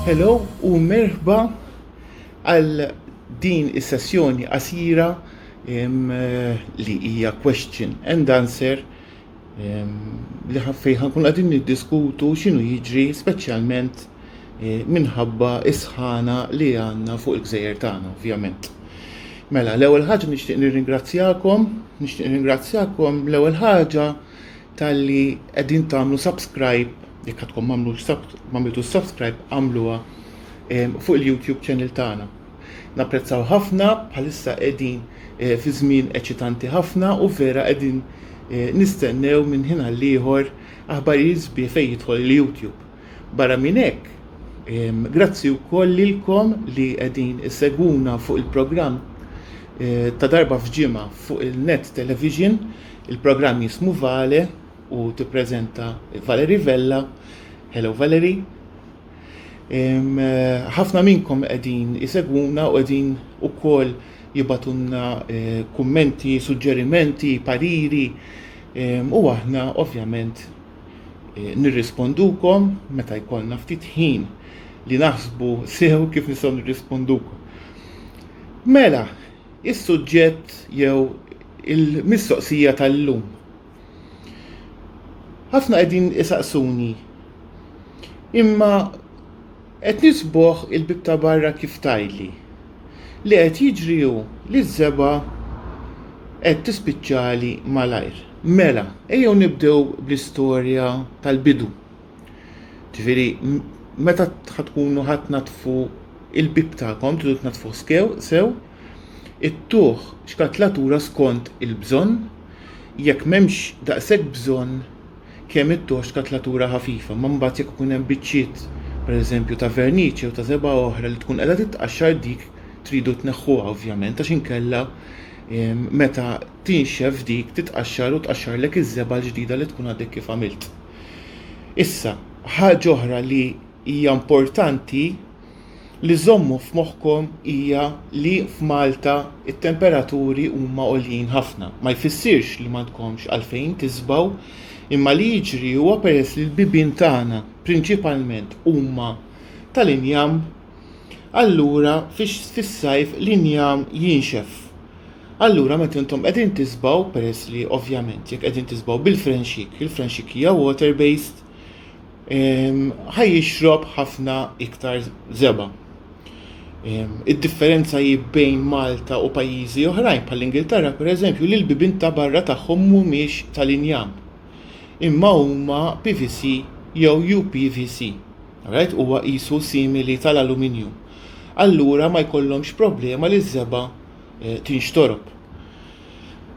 Hello u merħba għal din is-sessjoni qasira li hija question and answer li ħaffejħa kun għadin niddiskutu xinu jiġri speċjalment minħabba is-sħana li għandna fuq il-gżejjer tagħna, ovvjament. Mela, l-ewwel ħaġa nixtieq nirringrazzjakom, nixtieq nirringrazzjakom l-ewwel ħaġa talli qegħdin tagħmlu subscribe, jekk għadkom m'għamlux m'għamiltu subscribe għamluha ehm, fuq il-YouTube channel tagħna. Napprezzaw ħafna bħalissa qegħdin eh, fi żmien eċitanti ħafna u vera qegħdin eh, nistennew minn ħin għal ieħor aħbarijiet sbieħ fejn jidħol il-YouTube. Barra minn hekk, grazzi wkoll lilkom li qegħdin issegwuna fuq il-programm ta' darba f'ġimgħa fuq il-Net Television, il-programm jismu Vale u tippreżenta Valerie Vella. Hello Valerie. Ħafna minnkom qegħdin isegwuna u qegħdin ukoll jibatunna kummenti, suġġerimenti, pariri u aħna ovvjament eh, nirrispondukom meta jkollna ftit ħin li naħsbu sew kif nistgħu nirrispondukom. Mela, is-suġġett jew il-mistoqsija tal-lum. Ħafna qegħdin isaqsuni imma Qed nisbuh il-bieb ta' barra kif tgħidli. Li qed jiġri hu li ż-żebgħa qed tispiċċali malajr. Mela, ejjew nibdew bl-istorja tal-bidu. Ġifieri, meta ħa tkunu ħa tnaddfu l-bieb tagħkom, tridu tnaddfuh skew, sew, ittuh xkatlatura skont il-bżonn, jekk m'hemmx daqshekk bżonn, kemm it-torċ ta' tlatura ħafifa, imma mbagħad jekk ikun hemm biċċiet, pereżempju, ta' verniċ jew ta' żebgħa oħra li tkun qiegħda titqaxxar dik tridu tneħħuha ovvjament għax inkella meta tinxef dik titqaxxar u tqaxxarlek iż-żebgħa l-ġdida li tkun għadek kif għamilt. Issa, ħaġa oħra li hija importanti li żżommu f'moħħkom hija li f'Malta t-temperaturi huma għoljin ħafna. Ma jfissirx li m'għandkomx għalfejn tisbgħu, imma li jiġri huwa peress li l-bibien tagħna prinċipalment huma tal-injam, allura fis-sajf l-injam jinxef. Allura meta intom qegħdin tisbgħu, peress li ovvjament jekk qegħdin tisbgħu bil-frenxik, il-frenxik hija water-based, ħaj jixrob ħafna iktar żebgħa. Id-differenza hi bejn Malta u pajjiżi oħrajn bħall-Ingilterra pereżempju li l-bibien ta' barra tagħhom mhumiex tal-injam imma huma PVC jew UPVC. Alright, huwa qisu simili tal-aluminju. Allura ma jkollhomx problema li ż-żebgħa eh, tinxtorob.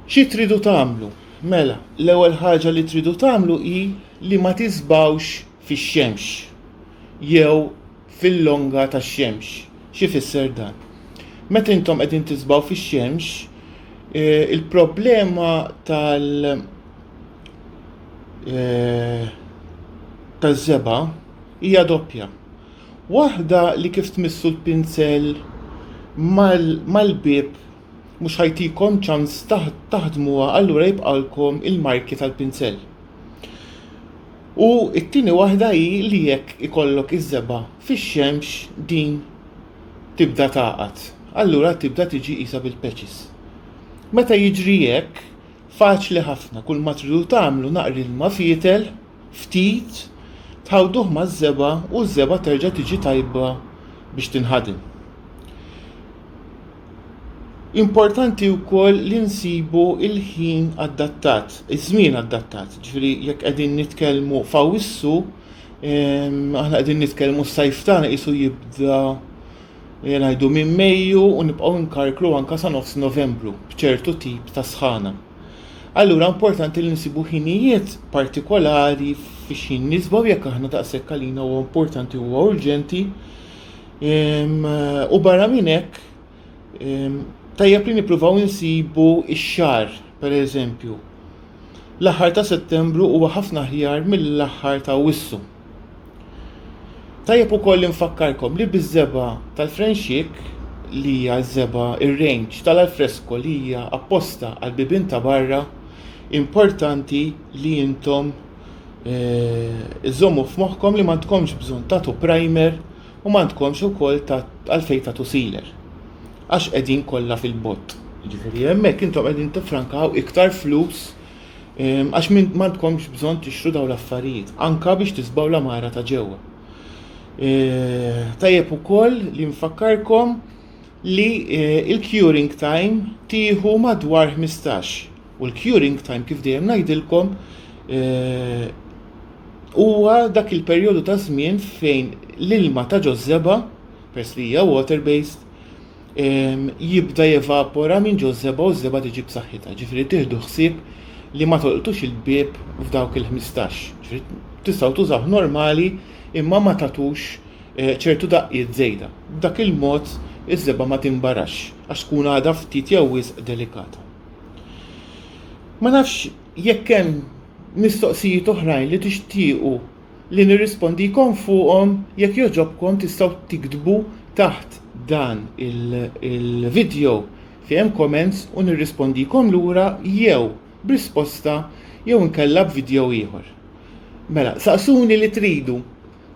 Xi tridu tagħmlu? Mela, l-ewwel ħaġa li tridu tagħmlu hi li ma tisbgħux fix-xemx jew fil-longa tax-xemx. X'ifisser dan? Meta intom qegħdin tisbgħu fix-xemx, eh, il-problema tal eh, taż-żebgħa hija doppja. Waħda li kif tmissu l-pinsel mal-bieb mhux ħajtikom ċans taħdmuha allura jibqalkom il-marki tal-pinsell. U it-tieni waħda hi li jekk ikollok iż-żebgħa fix-xemx din tibda taqgħad. Allura tibda tiġi qisha bil-peċis. Meta jiġri hekk, faċli ħafna kull ma tridu tagħmlu naqri ilma fietel ftit, tħawduh maż-żebgħa u ż-żebgħa terġa' tiġi tajba biex tinħadem. Importanti wkoll li nsibu il-ħin adattat, iż-żmien adattat, ġifieri jekk qegħdin nitkellmu f'Awwissu, ehm, aħna qegħdin nitkellmu s-sajf tagħna qisu jibda eh, ngħidu minn Mejju u nibqgħu nkarkru anke sa nofs Novembru b'ċertu tip ta' sħana. Allura importanti li nsibu ħinijiet partikolari fi xi nisbaw jekk aħna daqshekk għalina huwa importanti huwa urġenti. Ehm, u barra minn hekk ehm, tajjeb li nippruvaw insibu ix-xar, pereżempju. L-aħħar ta' Settembru huwa ħafna ħjar mill-aħħar ta' Wissu. Tajjeb ukoll li nfakkarkom li biż-żeba tal-frenxik li hija ż-żeba ir-range tal-alfresko li hija apposta għall-bibien ta' barra importanti li intom iżżommu f'moħħkom li m'għandkomx bżonn tagħtu primer u m'għandkomx ukoll għalfejn tagħtu sealer għax qegħdin kollha fil-bott. Jiġifieri hemmhekk intom qegħdin tiffrankaw iktar flus Għax m'għandkomx bżonn tixtru dawn l-affarijiet, anka biex tisbaw l-amara ta' ġewwa. Tajjeb ukoll li nfakkarkom li il-curing time tieħu madwar 15 u l-curing time kif dejjem ngħidilkom huwa dak il-perjodu ta' żmien fejn l-ilma ta' ġożżeba, pers li hija water based, jibda jevapora minn ġo żebgħa u ż-żebgħa tiġi b'saħħitha. Ġifieri tieħdu ħsieb li ma tolqtux il-bieb f'dawk il-ħmistax. Tistgħu tużawh normali imma ma tagħtux eh, ċertu daqqiet żejda. B'dak il-mod iż-żebgħa ma tinbarax għax tkun għadha ftit jew wisq delikata. Ma nafx jekk hemm mistoqsijiet oħrajn li tixtiequ li nirrispondikom fuqhom jekk jogħġobkom tistgħu tiktbu taħt dan il-video fejn hemm comments u nirrispondikom lura jew b'risposta jew inkella b'video ieħor. Mela, saqsuni li tridu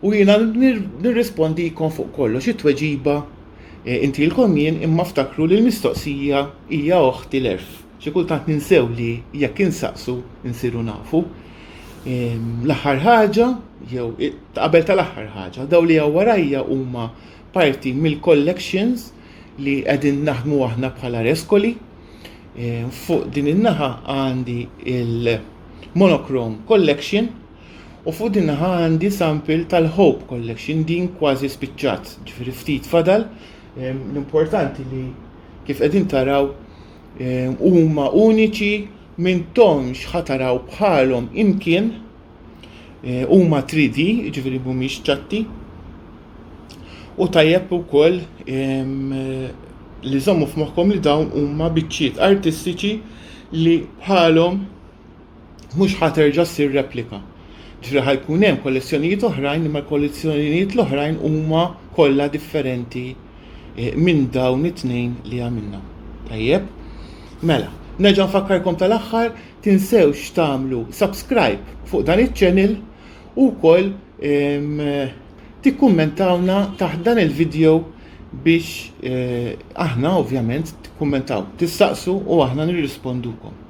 u jiena nirrispondikom fuq kollox it-tweġiba eh, intilkom jien imma ftakru li l-mistoqsija hija oħti l-erf. Xi kultant ninsew li jekk insaqsu nsiru nafu. L-aħħar ħaġa, jew qabel tal-aħħar ħaġa, daw li hawn warajja huma parti mill-collections li qegħdin naħdmu aħna bħala reskoli. Fuq din in-naħa għandi il-Monochrome Collection u fuq din naħa għandi sample tal-Hope Collection din kważi spiċċat, ġifieri ftit fadal. L-importanti li kif qegħdin taraw huma uniċi m'intomx ħataraw bħalhom imkien huma 3D, ġifiri mhumiex ċatti, u tajjeb ukoll li żommu f'moħħkom li dawn huma biċċiet artistiċi li bħalhom mhux ħa terġa' ssir replika. Ġifieri ħa jkun hemm kollezzjonijiet oħrajn imma l-kollezzjonijiet l-oħrajn huma kollha differenti eh, minn dawn it-tnejn li għamilna. Tajjeb? Mela, nerġa' nfakkarkom tal-aħħar tinsewx tagħmlu subscribe fuq dan iċ-channel u wkoll ehm, tikkummentawna taħt dan il-video biex eh, aħna ovvjament tikkummentaw, tistaqsu u aħna nirrispondukom.